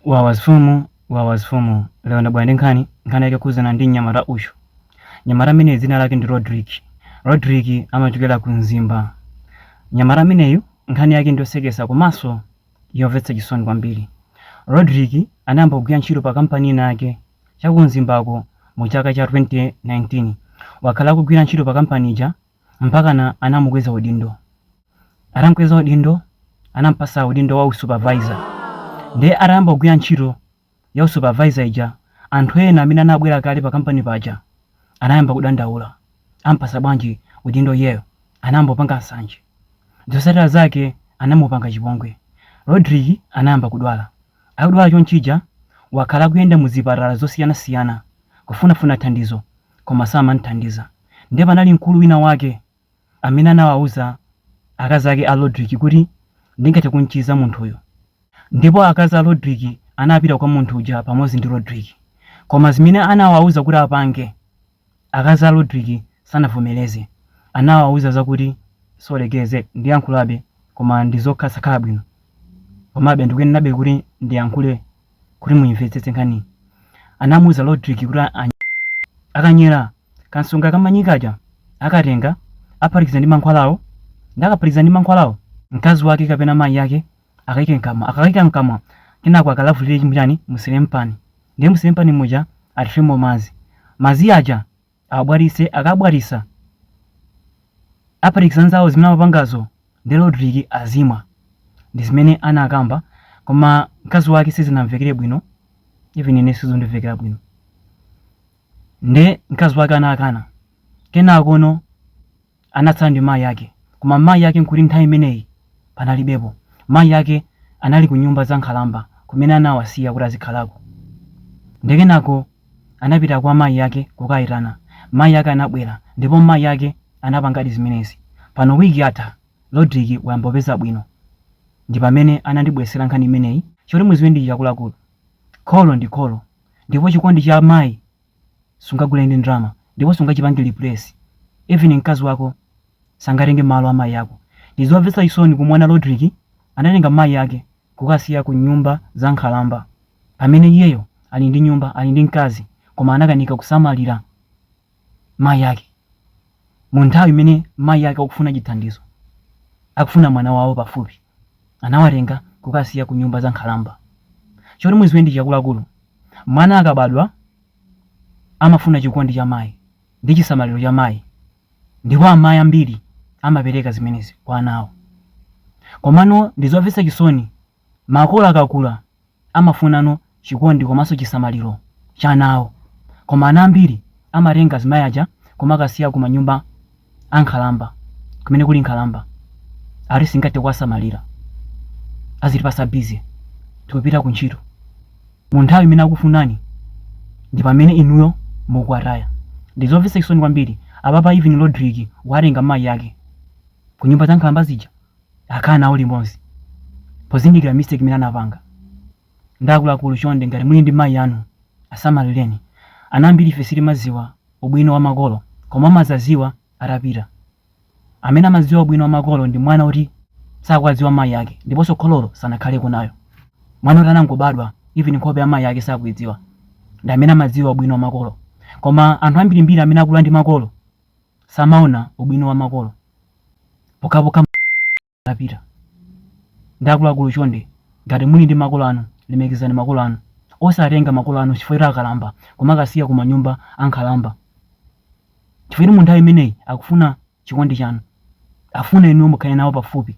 Wawa mfumu wawa mfumu lero ndabwera ndi nkhani nkhani yake yokhudzana ndi mnyamata uyu mnyamata amene dzina lake ndi rodrick rodrick amachokera ku mzimba mnyamata ameneyu nkhani yake ndiyosekesa komanso yomvetsa chisoni kwambiri rodrick anayamba kugwira ntchito pa kampani ina yake chaku mzimbako mu chaka cha 2019 wakhala akugwira ntchito pa kampani ija mpakana anamukweza udindo. Atamkweza udindo, anampasa udindo wa usupervisor. Ndiye atayamba kugwira ntchito ya usupervisor ija, anthu ena amene anabwera kale pa kampani paja anayamba kudandaula. Ampasa bwanji udindo iyeyo? Anayamba kupanga nsanje. Zotsatira zake anamupanga chipongwe. Rodrick anayamba kudwala. Akudwala chonchija, wakhala akuyenda mu zipatala zosiyanasiyana kufunafuna thandizo koma samam'thandiza. Ndiye panali mkulu winawake amene anawauza akazi ake a Rodrick kuti, Ndingathe kum'chiza munthuyu. Ndipo akazi a Rodrick anapita kwa munthu uja pamodzi ndi Rodrick. Koma zimene anawauza kuti apange, akazi a Rodrick sanavomereze. Anawauza zakuti, Sorry geze, ndiyankhulabe, koma ndi zosakhala bwino. Komabe ndikuyenerabe kuti ndiyankhule. kuti muyimvetsetse nkhaniyi anamuuza Rodrick kuti a- any- akanyera kansonga kamanyikaja akatenga aphatikiza ndi mankhwalawo nde akaphatikiza ndi mankhwalawo mkazi wake kapena mayi yake akayike mkamwa akayika mkamwa kenako akalavulire chinchani musefuliyani ndiye musefuliyani muja athiremo mazi mazi aja abwatise akabwatisa aphatikiza nzawo zimene amapangazo nde rodrick azimwa ndi zimene anakamba koma mkazi wake sizinamumvekere bwino even ine sizikundimvekera bwino nde mkazi wake anakana kenakono Anatsala ndi mayi ake, koma mayi ake n'kuti nthawi imeneyi panalibepo. Mayi ake anali ku nyumba za nkhalamba kumene anawasiya kuti azikhalako. Ndiye kenako anapita kwa mayi ake kukawaitana. Mayi ake anabwera ndipo mayi ake anapangadi zimenezi. Pano wiki yatha Rodrick wayamba kupeza bwino. Ndi pamene anandibweretsera nkhani imeneyi. Choti mudziwe ndi ichi akuluakulu, kholo ndi kholo ndipo chikondi cha mayi sungagule ndi ndalama ndipo sungachipange replace even mkazi wako sangatenge malo a mayi ako ndizomvetsa chisoni kumuona Rodrick anatenga mayi ake kukasiya ku nyumba za nkhalamba pamene iyeyo ali ndi nyumba ali ndi mkazi koma anakanika kusamalira mayi ake mu nthawi imene mayi ake akufuna chithandizo akufuna mwana wawo pafupi anawatenga kukasiya ku nyumba za nkhalamba. Choti muziwe ndi ichi akuluakulu, mwana akabadwa amafuna chikondi cha mayi ndi chisamaliro cha mayi ndipo amayi ambiri amapereka zimenezi kwa ana awo. Komano ndi zomvetsa chisoni makolo akakula amafunanso chikondi komanso chisamaliro cha ana awo. Koma ana ambiri amatenga azimayi aja kumakasiya ku manyumba a nkhalamba, kumene kuli nkhalamba. Ati singathe kuwasamalira. Azitipasa busy. Tikupita ku ntchito. Mu nthawi imene akufunani ndi pamene inuyo mukuwataya. Ndi zomvetsa chisoni kwambiri. Apapa even Rodrick watenga mayi ake ku nyumba za nkhalamba zija. akhala nawo limodzi pozindikira mistake imene anapanga ndiye akuluakulu chonde ngati muli ndi mayi anu asamalireni ana ambiri ife sitimadziwa ubwino wa makolo koma umadzadziwa atapita amene amadziwa ubwino wa makolo ndi mwana oti sakuwadziwa mayi ake ndiponso khololo sanakhaleko nayo mwana oti anangobadwa even nkhope ya mayi ake sakuidziwa ndi amene amadziwa ubwino wa makolo koma anthu ambirimbiri amene akula ndi makolo samaona ubwino wa makolo pokhapokha atapita ndiye akuluakulu chonde ngati muli ndi makolo anu lemekezani makolo anu osatenga makolo anu chifukwa choti akalamba kumakasiya ku manyumba ankhalamba chifukwa choti mu nthawi imeneyi akufuna chikondi chanu afuna inuyo mukhale nawo pafupi